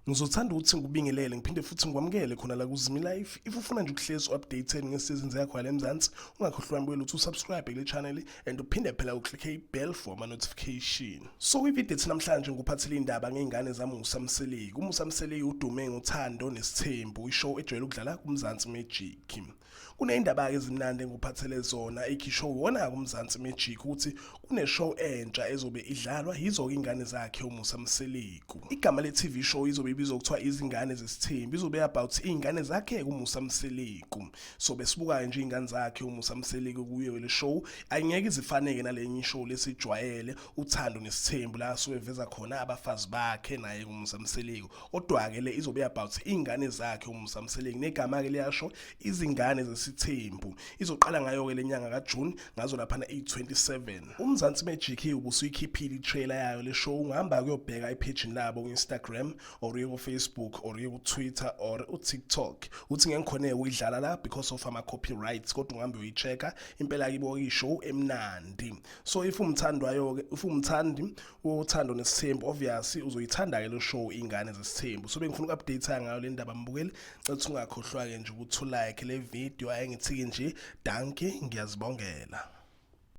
Ngizothanda ukuthi ngikubingelele ngiphinde futhi ngikwamukele khona la kuZimi Life. If ufuna nje ukuhlezi updated ngesizini yakho yala eMzansi, ungakhohlwa mbuyela uthi usubscribe kule channel and uphinde phela uclick ibell for ama notification. So kwivideo ethi namhlanje ngikuphathele indaba ngeingane zaMusa Mseleku. UMusa Mseleku udume ngothando nesithembu, ishow ejwayele ukudlala kuMzansi Magic. Kuneyindaba-ke ezimnandi engikuphathele zona ekhishwe uwona-ke uMzansi Magic ukuthi kuneshow entsha ezobe idlalwa yizo-ke iy'ngane zakhe uMusa Mseleku. Igama le-TV show izobe ibizwa kuthiwa Izingane Zesithembu izobe about iy'ngane zakhe uMusa Mseleku. So besibuka-ke nje iy'ngane zakhe uMusa Mseleku kuyo le show ayingeke izifaneke nalenye ishow lesijwayele uthando nesithembu la asuke eveza khona abafazi bakhe naye uMusa Mseleku. Kodwa-ke le izobe about iy'ngane zakhe uMusa Mseleku negama-ke liyasho izingane zesithembu. Izoqala ngayo-ke le nyanga kaJuni ngazo laphana iyi-27. UMzansi Magic-ke ubusuyikhiphile i-trailer yayo le show ungahamba kuyobheka ephejini labo ku-Instagram or uye ku-Facebook or uye ku-Twitter or u-TikTok. Uthi ngeke ngikhoneke ukuyidlala la because of ama-copyrights kodwa ungahambe uyichecka impela kibo ishow emnandi. So if umthandwayo-ke if umthandi uthando nesithembu obviously uzoyithanda-ke lo show ingane zesithembu so bengifuna uku-update ngayo le ndaba mbukeli cetha ungakhohlwa-ke nje ukuthi ulike le video ayengithiki nje danki ngiyazibongela